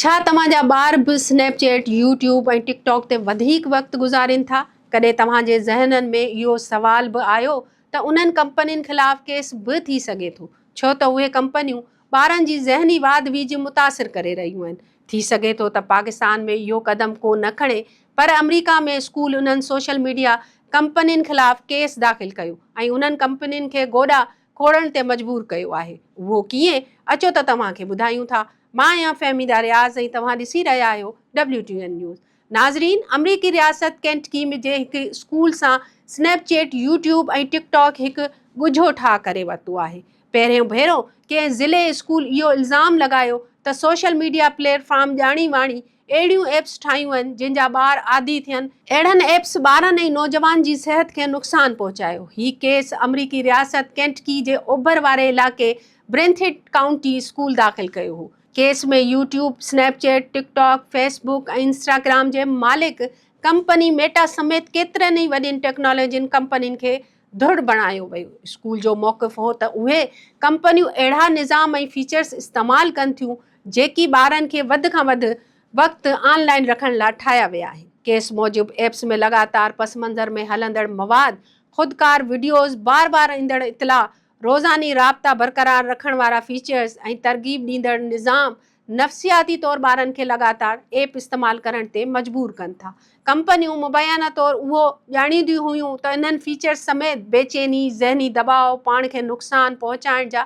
ڇا توهان جا ٻار به Snapchat, YouTube ۽ TikTok تي وڌيڪ وقت گذارين ٿا؟ ڪڏهن توهان جي ذهنن ۾ اهو سوال به آيو ته انهن ڪمپنين خلاف ڪيس به ٿي سگهي ٿو ڇو ته اهي ڪمپنيون ٻارن جي ذهني واڌ ويجهه متاثر ڪري رهيون آهن. ٿي سگهي ٿو ته پاڪستان ۾ اهو قدم ڪو نه کڻي پر آمريڪا ۾ اسڪول انهن سوشل ميڊيا ڪمپنين خلاف ڪيس داخل ڪيو ۽ انهن ڪمپنين کي گوڏا کوڙڻ تي مجبور ڪيو آهي اهو ڪيئن اچو ته توهان کي ٻڌايون ٿا مان آهيان فهميده رياض ۽ توهان ڏسي رهيا آهيو ڊبليو ٽي اين نيوز ناظرين امريڪي رياست ڪينٽڪي ۾ جي هڪ اسڪول سان Snapchat YouTube ۽ TikTok هڪ ڳجهو ٺاهه ڪري ورتو آهي پهريون ڀيرو ڪنهن ضلعي اسڪول اهو الزام لڳايو ته سوشل ميڊيا پليٽ فارم ڄاڻي واڻي اهڙيون ايپس ٺاهيون وڃن جن جا ٻار عادي ٿين. اهڙن ايپس ٻارن ۽ نوجوان جي صحت کي نقصان پهچايو. هي ڪيس امريڪي رياست ڪينٽڪي جي اوڀر واري علائقي برينٿيٽ ڪائونٽي اسڪول داخل ڪيو هو. Case ۾ YouTube, Snapchat, TikTok, Facebook ۽ Instagram جي مالڪ ڪمپني ميٽا سميت ڪيترن ئي وڏين ٽيڪنالاجين ڪمپنين کي ڌڙ بڻايو ويو. اسڪول جو موقف هو ته اهي ڪمپنيون اهڙا نظام ۽ فيچرز استعمال ڪن ٿيون جيڪي ٻارن کي وڌ کان وڌ وقت آن لائن رکڻ لا ٺاهيا ويا آهن. ڪيس موجب ايپس ۾ لڳاتار پس منظر ۾ هلندڙ مواد، خودڪار وڊيوز، بار بار ايندڙ اطلاع، روزاني رابطا برقرار رکڻ وارا فيچرز ۽ ترغيب ڏيندڙ نظام نفسياتي طور ٻارن کي لڳاتار ايپ استعمال ڪرڻ تي مجبور ڪن ٿا. ڪمپنيون مبينا طور اهو ڄاڻينديون هيون ته انهن فيچرز سميت بيچيني، ذهني دٻاء، پاڻ کي نقصان پهچائڻ جا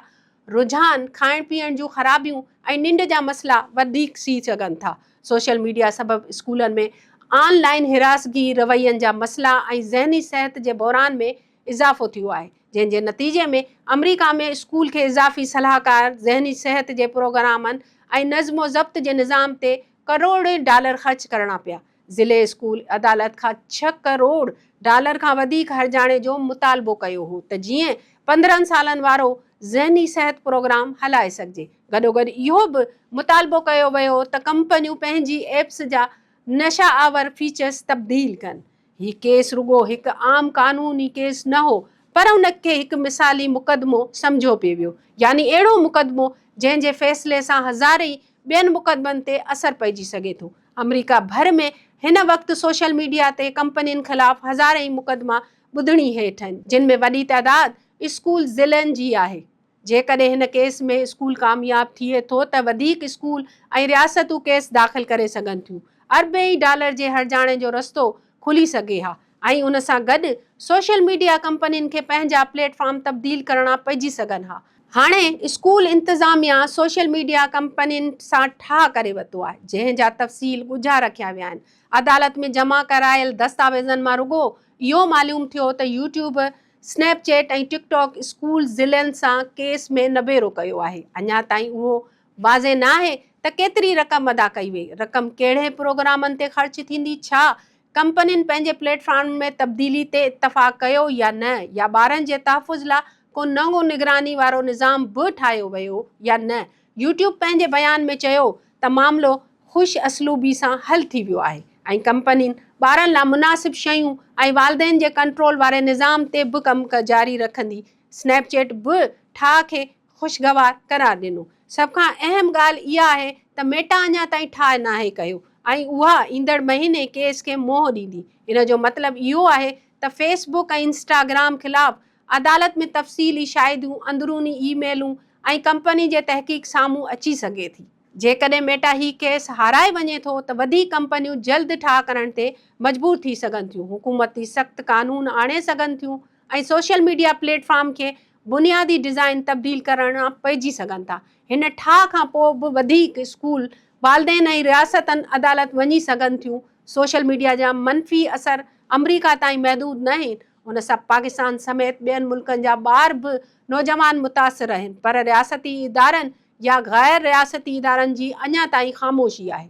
رجحان، کائڻ پيئڻ جون خرابيون ۽ ننڊ جا مسئلا وڌيڪ ٿي سگهن ٿا. سوشل ميڊيا سبب اسڪولن ۾ آن لائين هراسگي، روين جا مسئلا ۽ ذهني صحت جي بحران ۾ اضافو ٿيو آهي، جنهن جي نتيجي ۾ آمريڪا ۾ اسڪول کي اضافي صلاحڪار، ذهني صحت جي پروگرامن ۽ نظم و ضبط جي نظام تي ڪروڙين ڊالر خرچ ڪرڻا پيا. ضلعي اسڪول عدالت کان ڇهه ڪروڙ ڊالر کان وڌيڪ هرجاڻي جو مطالبو ڪيو هو ته جيئن پندرهن سالن وارو ذهني صحت پروگرام هلائي سگهجي. گڏوگڏ اهو به مطالبو ڪيو ويو ته ڪمپنيون پنهنجي ايپس جا نشه آور فيچرز تبديل ڪن. هي ڪيس رڳو هڪ عام قانوني ڪيس نه هو پر ان کي هڪ مثالي مقدمو سمجهيو پئي ويو يعني اهڙو مقدمو جنهن جي فيصلي سان هزارين ٻين مقدمن تي اثر پئجي سگهي ٿو. آمريڪا ڀر ۾ هن وقت سوشل ميڊيا تي ڪمپنين خلاف هزارين مقدما ٻڌڻي هيٺ آهن جن ۾ وڏي تعداد اسڪول ضلعن جي آهي. جيڪڏهن هن ڪيس ۾ اسڪول ڪامياب ٿئي ٿو ته وڌيڪ اسڪول ۽ رياستون ڪيس داخل ڪري سگهن ٿيون اربين ڊالر جي هرجاڻي جو رستو کلي سگهي ها. ۽ ان سان گڏ سوشل ميڊيا ڪمپنين کي پنهنجا پليٽ فارم تبديل ڪرڻا پئجي سگهن ها. هاڻي اسڪول انتظاميا سوشل ميڊيا ڪمپنين سان ٺاهه ڪري ورتو آهي جنهن جا تفصيل ڳجها رکيا ويا آهن. عدالت ۾ جمع ڪرايل دستاويزن مان رڳو اهو معلوم ٿيو ته YouTube, Snapchat ۽ TikTok school ضلعن سان ڪيس ۾ نبيرو ڪيو آهي. اڃا تائين اهو واضح ناهي ته ڪيتري رقم ادا ڪئي وئي، رقم ڪهڙي پروگرامن تي خرچ ٿيندي، ڇا ڪمپنين پنهنجي پليٽ فارمن ۾ تبديلي تي اتفاق ڪيو يا نه يا ٻارن جي تحفظ لا ڪو نئون نگراني وارو نظام به ٺاهيو ويو يا نه، يوٽيوب پنهنجي بيان ۾ چيو ته معاملو خوش اسلوبي سان حل ٿي ويو آهي ۽ ڪمپنين ٻارن لا مناسب شيون ۽ والدين جي ڪنٽرول واري نظام تي به ڪم جاري رکندي، سنيپ چيٽ به ٺاهه کي خوشگوار قرار ڏنو. سڀ کان اهم ڳالهه اها آهي ته ميٽا اڃا تائين ٺاهه ناهي ڪيو ۽ اها ايندڙ مهيني ڪيس کي منهن ڏيندي. ان جو مطلب اهو آهي ته فيس بڪ ۽ انسٽاگرام خلاف عدالت ۾ تفصيلي شاهديون، اندروني اي ميلون ۽ ڪمپني جي تحقيق سامهون اچي سگهي ٿي. جيڪڏهن ميٽا هي ڪيس هارائي وڃي ٿو ته وڌيڪ ڪمپنيون جلد ٺاهه ڪرڻ تي مجبور ٿي سگهن ٿيون، حڪومت تي سخت قانون آڻي سگهن ٿيون ۽ سوشل ميڊيا پليٽ فارم کي بنيادي ڊزائن تبديل ڪرڻا پئجي سگهن ٿا. هن ٺاهه کان پوء به وڌيڪ اسڪول، والدين ۽ رياستن عدالت وڃي سگهن ٿيون. سوشل ميڊيا جا منفي اثر آمريڪا تائين محدود نه آهن، ان سان پاڪستان سميت ٻين ملڪن جا ٻار به نوجوان متاثر آهن پر رياستي ادارن يا غير رياستي ادارن جي اڃا تائين خاموشي آهي.